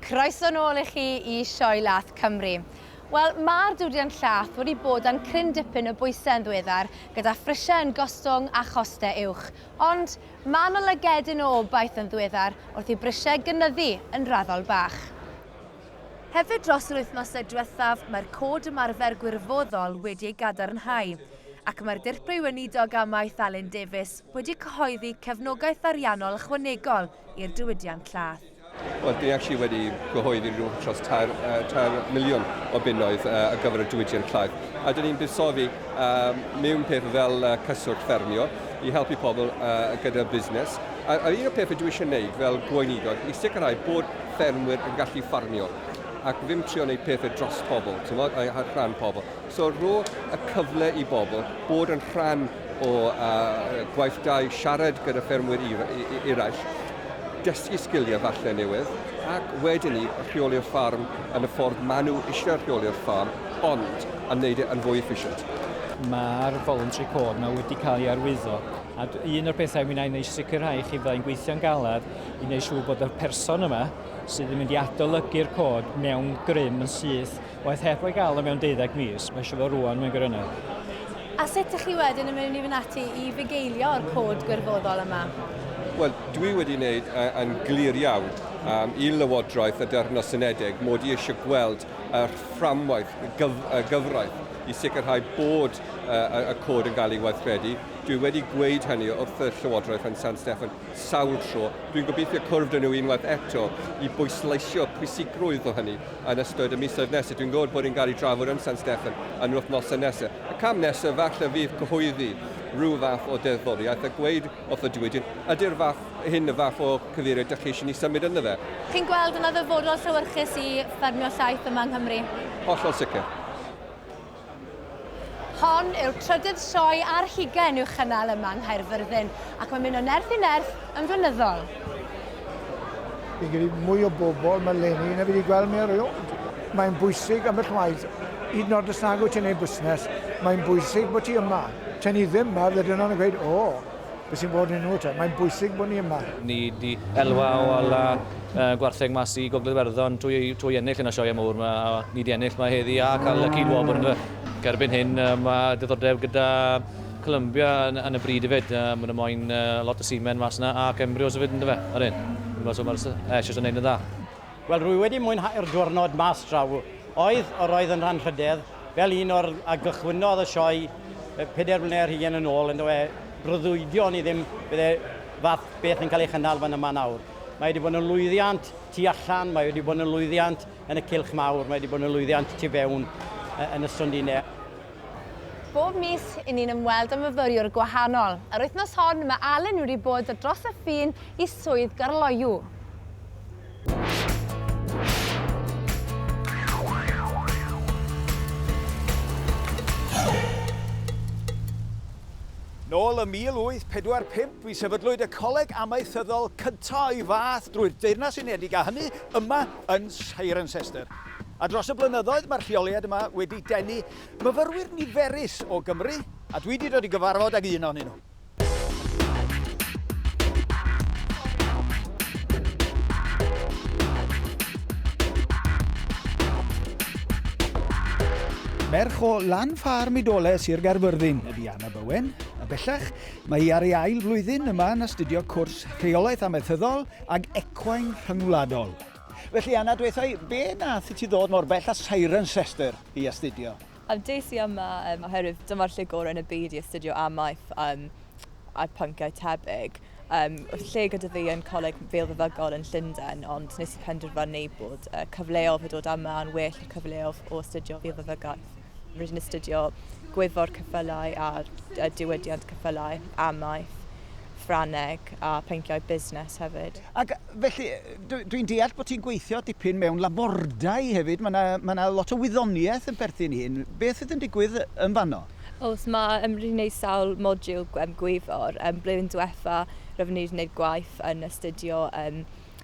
Croeso nôl i chi i Sioe Lath Cymru. Wel, mae'r diwydiant llath wedi bod dan cryn dipyn o bwysau yn ddiweddar, gyda phrisiau yn gostwng a chostau uwch. Ond mae yna lygedyn o obaith yn ddiweddar wrth i brisiau gynyddu yn raddol bach. Hefyd, dros yr wythnosau diwethaf, mae'r cod ymarfer gwirfoddol wedi ei gadarnhau. ac mae'r Dirprwy Weinidog Amaeth Alun Davies wedi cyhoeddi cefnogaeth ariannol ychwanegol i'r diwydiant llaeth. Wel, dwi actually wedi cyhoeddi rhywbeth dros tair, uh, tair miliwn o bunnoedd uh, ar gyfer y diwydiant llaeth. A dyn ni'n buddsoddi uh, mewn peth fel uh, cyswllt ffermio i helpu pobl uh, gyda busnes. A, a un o'r pethau dwi eisiau gwneud fel gweinidog i sicrhau bod ffermwyr yn gallu ffarmio ac ddim trio wneud pethau dros pobl, ti'n modd, a rhan pobl. So rhoi'r y cyfle i bobl bod yn rhan o uh, gwaithdai, siarad gyda ffermwyr eraill, dysgu sgiliau falle newydd, ac wedyn ni rheoli'r ffarm yn y ffordd maen nhw eisiau rheoli'r ffarm, ond yn gwneud e yn fwy efficient. Mae'r voluntary code yma wedi cael ei arwyddo, a un o'r pethau mi wna'n eisiau sicrhau chi fyddai'n gweithio'n galed i wneud siŵr bod y person yma sydd yn mynd i adolygu'r cod mewn grym yn syth Waeth heb ei gael o mewn deuddeg mis, mae eisiau fo rŵan, mae'n grynedd. A sut dych chi wedyn yn mynd i fynd ati i fugeilio o'r cod gwirfoddol yma? Wel, dwi wedi wneud uh, yn glir iawn um, i Lywodraeth y Deyrnas Unedig mod i eisiau gweld y fframwaith gyf y gyfraith i sicrhau bod uh, y cod yn cael ei weithredu. Dwi wedi gweud hynny wrth y Llywodraeth yn San Steffan. sawl tro. Dwi'n gobeithio cwrdd â nhw unwaith eto i bwysleisio pwysigrwydd o hynny yn ystod y misoedd nesaf. Dwi'n gwybod bod ni'n cael ei drafod yn San Steffan yn yr wythnosau nesaf. Y cam nesaf falle fydd cyhoeddi rhyw fath o ddeddfwriaeth a gweud wrth y diwydiant, ydy'r fath hyn y fath o cyfeiriad dach chi eisiau ni symud ynddo fe? Chi'n gweld yn ddyfodol llewyrchus i ffermio llaeth yma yng Nghymru? Hollol sicr. Hon yw'r trydydd sioe ar hugain i'w chynnal yma yng Nghaerfyrddin ac mae'n mynd o nerth i nerth yn flynyddol. Fi'n credu mwy o bobl mae leni na fi wedi gweld mi erioed. Mae'n bwysig ambell waith, hyd yn oed os nag wyt ti'n ei busnes, mae'n bwysig bod ti yma. Ta'n ni ddim yma, fydde dyna nhw'n gweud, o! beth sy'n bod yn nhw te. Mae'n bwysig bod ni yma. Ni di elwa o ala uh, gwartheg mas i Gogledd Werddon trwy, trwy ennill yn y sioia mawr yma. Ni di ennill mae heddi a cael y cyd wobr yn y cerbyn hyn. Uh, mae diddordeb gyda Columbia yn, yn y bryd hefyd. Uh, mae yna moyn uh, lot o simen mas yna ac embryos hefyd yn dyfa. Yr hyn. Mae so mae'r Eshes yn neud yn dda. Wel, rwy wedi mwynhau'r diwrnod mas draw. Oedd, yr oedd yn rhanrhydedd, fel un o'r a gychwynnodd y sioe pedair mlynedd ar hugain yn ôl, yndofe? Breuddwydio o'n i ddim bydd e fath beth yn cael ei chynnal fan yma nawr. Mae wedi bod yn lwyddiant tu allan, mae wedi bod yn lwyddiant yn y cylch mawr, mae wedi bod yn lwyddiant tu fewn yn y stondinne. Bob mis, i ni'n ymweld â myfyriwr gwahanol. Yr wythnos hon, mae Alun wedi bod dros y ffin i swydd Garloyw. Nôl ym 1845 bu sefydlwyd y coleg amaethyddol cyntaf o'i fath drwy'r Deyrnas Unedig a hynny yma yn Cirencester. A dros y blynyddoedd mae'r lleoliad yma wedi denu myfyrwyr niferus o Gymru, a dwi 'di dod i gyfarfod ag un ohonyn nhw. Merch o lan ffarm Idole, Sir Gaerfyrddin, ydy Anna Bowen, a bellach mae hi ar ei ail flwyddyn yma yn astudio cwrs rheolaeth amaethyddol ag ecwain rhyngwladol. Felly Anna, dweutha i, be nath i ti ddod mor bell a Cirencester i astudio? Yym des i yma yym oherwydd dyma'r lle gore yn y byd i astudio amaeth yym a pynciau tebyg. Yym o'dd lle gyda fi yn Coleg Feilfeddygol yn Llunden ond nes i penderfynu bod yy cyfleodd o dod yma yn well y cyfleodd o astudio Feilfeddygaeth. Rydyn ni'n astudio Gwyddor Ceffylau a Diwydiant Ceffylau, Amaeth, Ffrangeg a Pynciau Busnes hefyd. Ac felly, dwi'n deall bod ti'n gweithio dipyn mewn labordai hefyd, mae 'na mae 'na lot o wyddoniaeth yn perthyn i hyn. Beth fydd yn digwydd yn fanno? Oes, mae yym rydyn ni'n gwneud sawl modiwl yym Gwyddor. Blwyddyn diwetha' roedden ni wedi gwneud gwaith yn astudio yym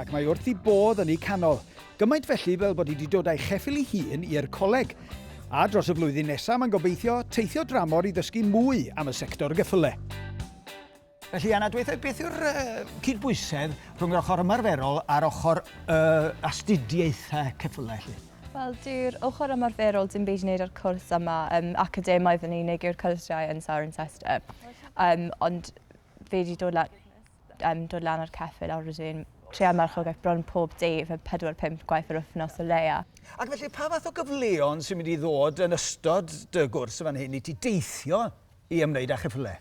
Ac mae wrth i bodd yn eu canol. Gymaint felly fel bod hi wedi dod a'i cheffyl ei hun i'r coleg. A dros y flwyddyn nesaf mae'n gobeithio teithio dramor i ddysgu mwy am y sector geffyle. Felly Anna, dweitha, beth yw'r cydbwysedd rhwng yr ochr ymarferol a'r ochr uh, astudiaethau ceffylau chi? Wel, dyw'r ochr ymarferol dim byd i wneud â'r cwrs yma. Um, academaidd yn unig yw'r cyrsiau yn Sarah and Sester. Um, ond fe wedi dod lan Yn dod lan o'r ceffyl a rydyn treial marchogaeth bron pob dydd yn pedwar pump gwaith yr wythnos o leia. Ac felly pa fath o gyfleon sy'n mynd i ddod yn ystod dy gwrs fan hyn i ti deithio i ymwneud â cheffylau?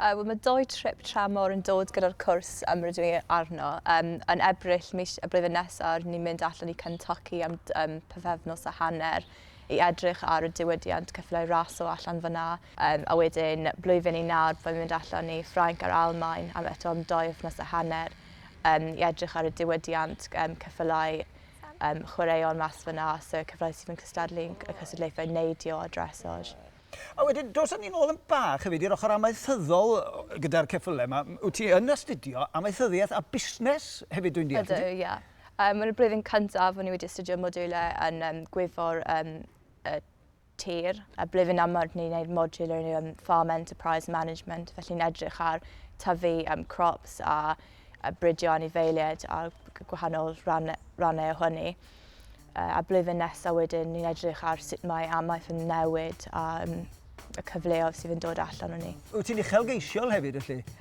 Yy wel ma' dou trip tramor yn dod gyda'r cwrs yym rydw i arno. Yym yn Ebrill mis y blwyddyn nesa rydyn ni'n mynd allan i Kentucky am yym pythefnos a hanner i edrych ar y diwydiant ceffylau raso allan fan'na. Yym, a wedyn blwyddyn i nawr byddai'n mynd allan i Ffrainc a'r Almaen am eto am dou wythnos a hanner yym, i edrych ar y diwydiant yym, ceffylau yym, chwaraeon mas fyna, so ceffylau sydd yn cystadlu yn y cystadlaethau neidio a dressage. A wedyn, doson ni nôl yn bach hefyd i'r ochr amaethyddol gyda'r ceffylau yma. Wyt ti yn astudio amaethyddiaeth a busnes hefyd dwi'n deall? Ydw, ie. Mae'n y blwyddyn cyntaf o'n i wedi astudio modiwlau yn Gwyddor tir. A ble fi'n amod ni'n neud module o'r um, farm enterprise management, felly ni'n edrych ar tyfu um, crops a, a bridio anifeiliaid a gwahanol rannau, rannau o hynny. Uh, a blwyddyn nesaf wedyn ni'n edrych ar sut mae amaeth yn newid a um, y cyfleoedd sydd yn dod allan o'n ni. Wyt ti'n uchelgeisiol hefyd, felly?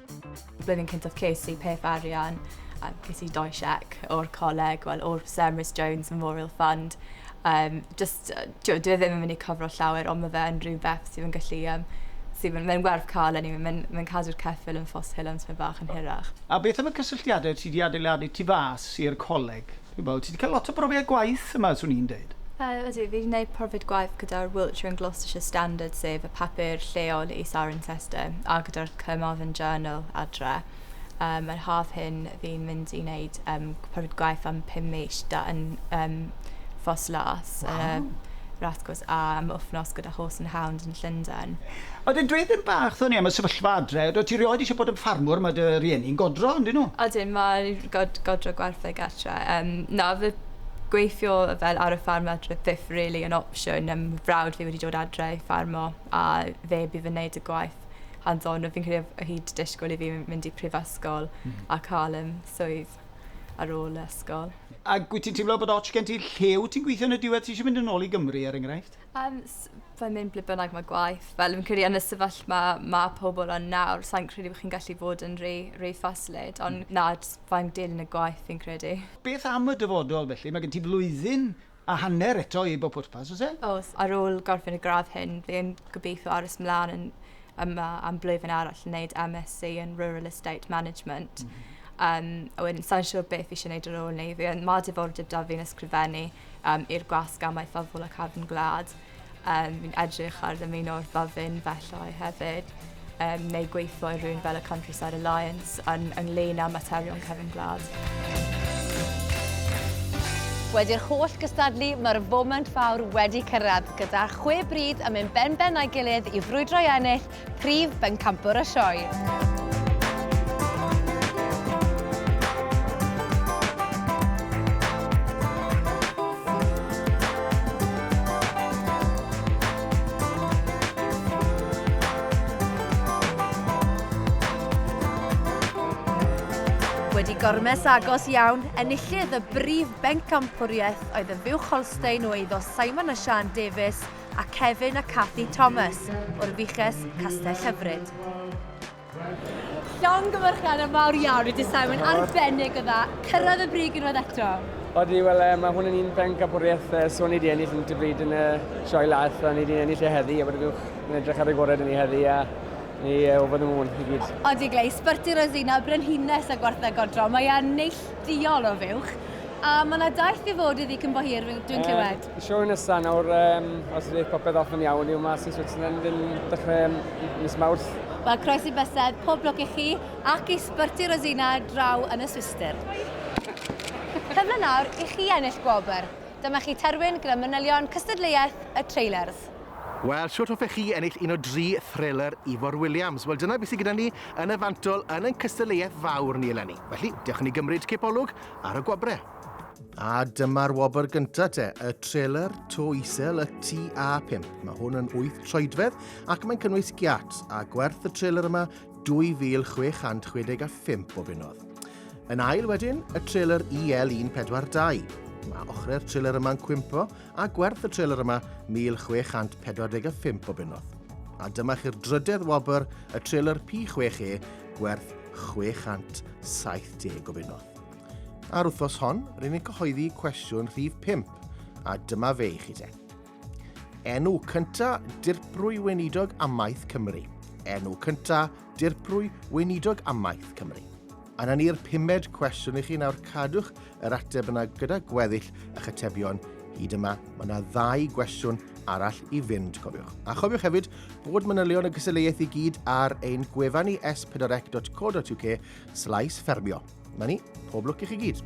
Blwyddyn cyntaf ces i peth arian a ges i dou siec o'r coleg, wel o'r Sir Emrys Jones Memorial Fund. Um, just, uh, dwi e ddim yn mynd i cyfro llawer, ond mae fe yn rhywbeth sydd yn gallu um, sydd yn, mae'n werth cael yn anyway. Mae'n mae cadw'r ceffil yn ffos hil ond sy'n bach yn hirach. A beth am y cysylltiadau ti wedi adeiladu tu fas i'r coleg? Wel, ti 'di cael lot o brofiad gwaith yma, swn i'n deud. Yy, ydw, fi 'di neud profiad gwaith gyda'r Wiltshire and Gloucestershire Standard, sef y papur lleol i Cirencester, a gyda'r Carmarthen Journal adre. Um, yr haf hyn, fi'n mynd i wneud um, profiad gwaith am pum mis da yn um, Ffos Las, yn y Waw. Rathgos, a am wythnos gyda Horse and Hound yn Llundain. A wedyn dweud ddim bach ddo ni am y sefyllfa adre. Oeddet ti rioed eisiau bod yn ffarmwr, mae dy rieni'n godro, yndyn nhw? Ydyn, mae God- godro gwartheg gatre. Yym na odd y gweithio fel ar y ffarm adre byth rili yn opsiwn yym frawd fi wedi dod adre i ffarmo a fe by' fe'n neud y gwaith hands on a fi'n credu odd o hi 'di disgwl i fi m- mynd i prifysgol... Hmm. ...a ca'l yym swydd ar ôl ysgol. Ag wyt ti'n teimlo bod ots gen ti lle wyt ti'n gwithio yn y diwedd ti isie mynd yn ôl i Gymru er enghraifft? Um, fe mynd ble bynnag mae gwaith. Fel yn credu yn y sefyllfa mae, mae pobl yn nawr, sa'n credu bod chi'n gallu bod yn rei, rei ffasylid, ond mm. na, fa'n dilyn y gwaith fi'n credu. Beth am y dyfodol felly? Mae gen ti flwyddyn a hanner eto i bob pwrpas, oes e? Os, ar ôl gorffen y gradd hyn, fi'n gobeithio aros mlaen yn yma am blwyddyn arall yn gwneud MSc yn Rural Estate Management. Mm -hmm. um, a wedyn, sa'n siŵr beth fi eisiau gwneud ar ôl ni. Mae diddordeb da fi'n ysgrifennu. um, i'r gwasg amaethyddol ac arfn gwlad. Um, fi'n edrych ar ddymuno'r byddin felly hefyd, um, neu gweithio i rhywun fel y Countryside Alliance yn, ynglyn â materion cefn gwlad. Wedi'r holl gystadlu, mae'r foment fawr wedi cyrraedd, gyda chwe bryd yn mynd ben-ben a'i gilydd i frwydro i ennill Prif bencampwr y sioe. Wedi gormes agos iawn, enillydd y brif bencampwriaeth oedd y Fuwch Holstein o eiddo Simon a Sian Davies a Kevin a Cathy Thomas o'r Fiches Castell Hyfryd. Llongyfarchiadau mawr iawn i Dydd Mae'n arbennig o dda. Cyrraedd y brig unwaith eto. Odi, wel, e, mae hwn yn un pen capwriaeth e, so ni wedi ennill yn dybryd yn y sioe laeth, a ni wedi ennill e heddi, a bod y buwch yn edrych ar y gorau dyn ni heddi, a ni e, o fod yn mwn i gyd. Odi, Glei, sbyrti Rosina, brenhines a gwartha godro, mae e'n neilldiol o fuwch, a mae yna daith i fod iddi cyn bo hir, dwi'n clywed. Y sioe nesaf nawr, um, os ydy popeth off yn iawn, yw mas i Switzerland yn dechrau mis Mawrth. Wel, croesi bysedd, pob lwc i chi ac i Sbyrti Rosina draw yn y Swistir. Cyfle nawr i chi ennill gwobr. Dyma chi terfyn gyda manylion cystadleuaeth y trailers. Wel, shwt hoffech chi ennill un o dri thrailer Ifor Williams? Wel, dyna beth sydd gyda ni yn y fantol yn ein cystadleuaeth fawr ni eleni. Felly, diolch i ni gymryd cipolwg ar y gwobrau. A dyma'r wobr gyntaf te, y trailer to isel y TA5. Mae hwn yn wyth troedfedd ac mae'n cynnwys giat a gwerth y trailer yma 2,665 o bunnodd. Yn ail wedyn, y trailer EL142. Mae ochrau'r trailer yma'n cwympo a gwerth y trailer yma 1,645 o bunnodd. A dyma chi'r drydedd wobr, y trailer P6E, gwerth 670 o bunnodd. A'r wythnos hon, rydyn ni'n cyhoeddi cwestiwn rhif 5, a dyma fe i chi te. Enw cynta dirprwy weinidog amaeth Cymru. Enw cynta dirprwy weinidog amaeth Cymru. A na ni'r pumed cwestiwn i chi nawr cadwch yr ateb yna gyda gweddill eich atebion hyd yma. Mae yna ddau gwestiwn arall i fynd, cofiwch. A chofiwch hefyd bod manylion y gystadleuaeth i gyd ar ein gwefan ni s4ec.co.uk slaes ffermio. Na ni, pob lwc i chi gyd.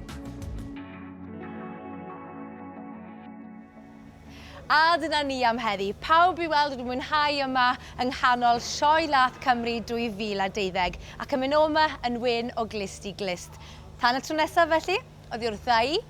A dyna ni am heddi. Pawb i weld wedi mwynhau yma yng nghanol Sioe Lath Cymru 2012 ac yn mynd o'ma yn wyn o glust i glust. Tan y tro nesaf felly, oddi wrtha i,